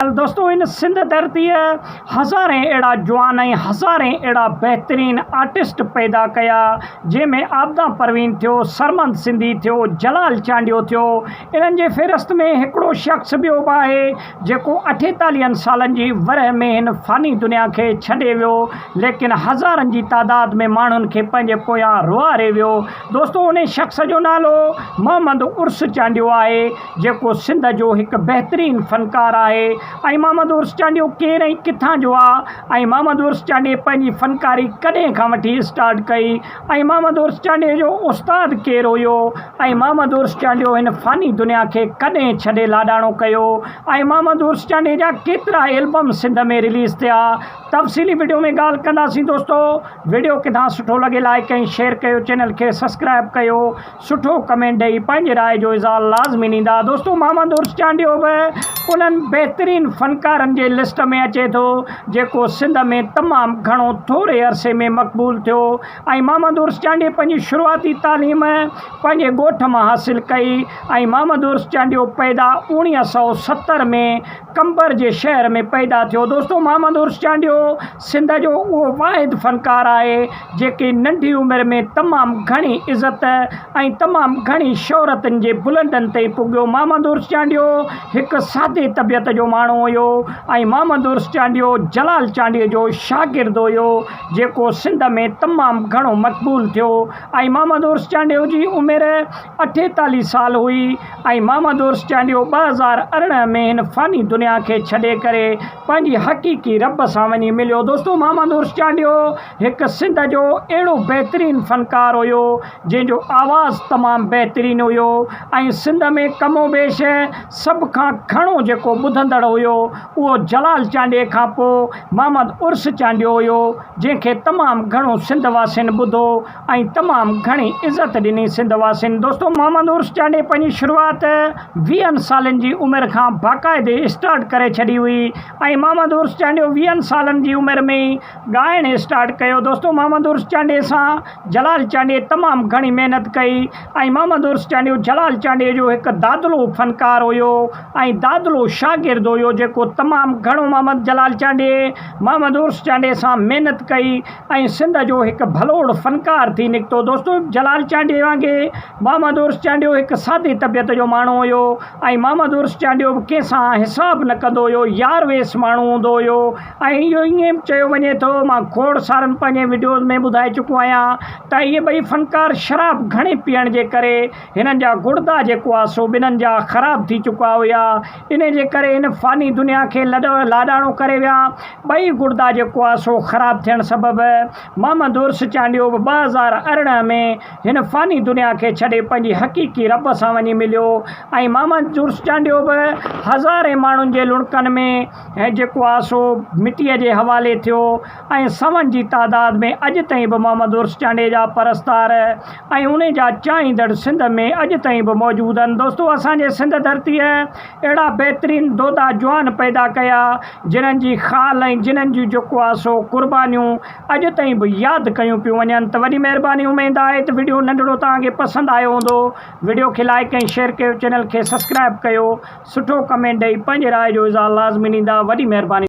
دوستو هن سنڌ ڌرتيء هزارين اهڙا جوان ۽ هزارين اهڙا بهترين آرٽسٽ پيدا ڪيا جنهن ۾ عابده پروين ٿيو سرمد سنڌي ٿيو جلال چانڊيو ٿيو انهن جي فهرست ۾ هڪڙو شخص ٻيو به آهي جيڪو اٺيتاليهن سالن جي ورهه ۾ هن فاني دنيا کي ڇڏي ويو ليڪن هزارن جي تعداد ۾ ماڻهن کي پنهنجي پويان روئاري ويو دوستو انهي شخص جو نالو محمد عرس چانڊيو آهي جيڪو سنڌ جو هڪ بهترين فنڪار آهي ۽ محمد عرس چانڊيو ڪير ۽ ڪٿان جو آ ۽ محمد عرس چانڊي پنهنجي فنڪاري ڪڏهن کان وٺي اسٽارٽ ڪئي ۽ محمد عرس چانڊي جو استاد ڪير هيو ۽ محمد عرس چانڊيو هن فاني دنيا کي ڪڏهن ڇڏي لاڏاڻو ڪيو ۽ محمد عرس چانڊي جا ڪيترا البم سنڌ ۾ رليز ٿيا تفصيلي وڊيو ۾ ڳالهه ڪنداسين دوستو وڊيو ڪٿان سٺو لڳي لائڪ ۽ شيئر ڪيو چينل کي سبسڪرائب ڪيو سٺو ڪمينٽ ڏئي پنهنجي راء جو اظهار لازمي ڏيندا دوستو محمد عرس چانڊيو به انهن بهترين فنڪارن جي لسٽ ۾ اچي ٿو جيڪو سنڌ ۾ تمام گهڻو ٿوري عرصي ۾ مقبول ٿيو ۽ محمد عرس چانڊيي پنهنجي شروعاتي تعليم پنهنجي ڳوٺ مان حاصل ڪئي ۽ محمد عرس چانڊيو پيدا اوڻيهه سؤ ستر ۾ قمبر جي شهر ۾ پيدا ٿيو. دوستو محمد عرس چانڊيو سنڌ جو اهو واحد فنڪار آهي جيڪي ننڍي عمر ۾ تمام گهڻي عزت ۽ تمام گهڻي شهرتن جي بلندن تي پڳيو محمد عرس چانڊيو هڪ سادي طبيعت جو ماڻهو هيو ۽ محمد عرس چانڊيو جلال چانڊيو جو شاگرد هيو جيڪو سنڌ ۾ تمام گهڻو مقبول ٿيو ۽ محمد عرس چانڊيو جي عمر اٺيتاليهه سال هئي ۽ مامادورس چانڊيو ٻه هزار ارڙهن ۾ هن فاني دنيا کي ڇڏي ڪري پنهنجي حقيقي رب سان وڃي مليو. دوستو مامادورس چانڊيو هڪ سنڌ جو اهڙو بهترين فنڪار هيو جنهن جو آواز تمام بهترين هيو ۽ سنڌ ۾ ڪم و بيش سڀ کان گهڻو جيڪو ٻڌندڙ هيو اهو جلال چانڊيي کان پوء مامد عرس چانڊيو هيو جنهن کي تمام گهڻو سنڌ واسين ٻڌو ۽ تمام گهڻي عزت ڏني سنڌ واسين. دوستو محمد عرس چانڊئي پنهنجي شروعات ويهن سالن جي عمر کان باقاعدي اسٽارٽ ڪري ڇڏي هئي ۽ محمد عرس چانڊيو ويهن سالن جي عمر ۾ ئي ڳائڻ اسٽارٽ ڪيو دوستو محمد عرس چانڊئي سان جلال چانڊئي تمام گهڻي محنت ڪئي ۽ محمد عرس چانڊيو جلال چانڊئي جو هڪ دادلو فنڪار هيو ۽ دادلو شاگرد هيو جيڪو تمام گهڻو محمد جلال چانڊئي محمد عرس چانڊئي سان محنت ڪئي ۽ سنڌ جو هڪ ڀلوڙ فنڪار ٿي نڪتو. دوستو! جلال چانڊيي وانگي محمد عرس چانڊيو هڪ سادي طبيعت جو ماڻهو هيو ۽ محمد عرس چانڊيو به ڪنهن سان حساب نه ڪندو هيو، يار ويس ماڻهو هوندو هيو ۽ اهو ائين به چيو وڃي ٿو، مان کوڙ سارن پنهنجين وڊيوز ۾ ٻڌائي چڪو آهيان ته اهي ٻئي فنڪار شراب گهڻي پيئڻ جي ڪري هنن جا گڙدا جيڪو آهي سو ٻنهن جا خراب ٿي چڪا هيا. انهيء جي ڪري هن فاني دنيا کي لاڏاڻو ڪري ويا. ٻئي گڙدا جيڪو آهي سو خراب ٿيڻ سبب محمد عرس چانڊيو به ٻه هزار ارڙهن ۾ هن فاني دنيا کي ڇڏي پنهنجي حقيقي رب سان وڃي مليو ۽ محمد عرس چانڊيو به هزارين ماڻهن جي لڙڪن ۾ جيڪو آهي سو مٽيء جي حوالي ٿيو ۽ سون جي تعداد ۾ اڄ تائين به محمد عرس چانڊيي جا پرستار ۽ انهي جا چاهيندڙ سنڌ ۾ اڄ تائين به موجود آهن دوستو اسان جي سنڌ ڌرتيء اهڙا بهترين دودا جوان پيدا ڪيا جنهن جي خال ۽ جنهن جون جيڪو آهي سو قربانيون اڄ تائين به ياد ڪيون پيون وڃن ته وڏي مهرباني اميد آهي ته وڊيو ننڍڙو توهان کي پسند آيو هوندو وڊيو کي لائڪ ۽ شيئر ڪيو چينل کي سبسڪرائب ڪيو سٺو ڪمينٽ ڏئي پنهنجي راء جو اظهار لازمي ڏيندا وڏي مهرباني.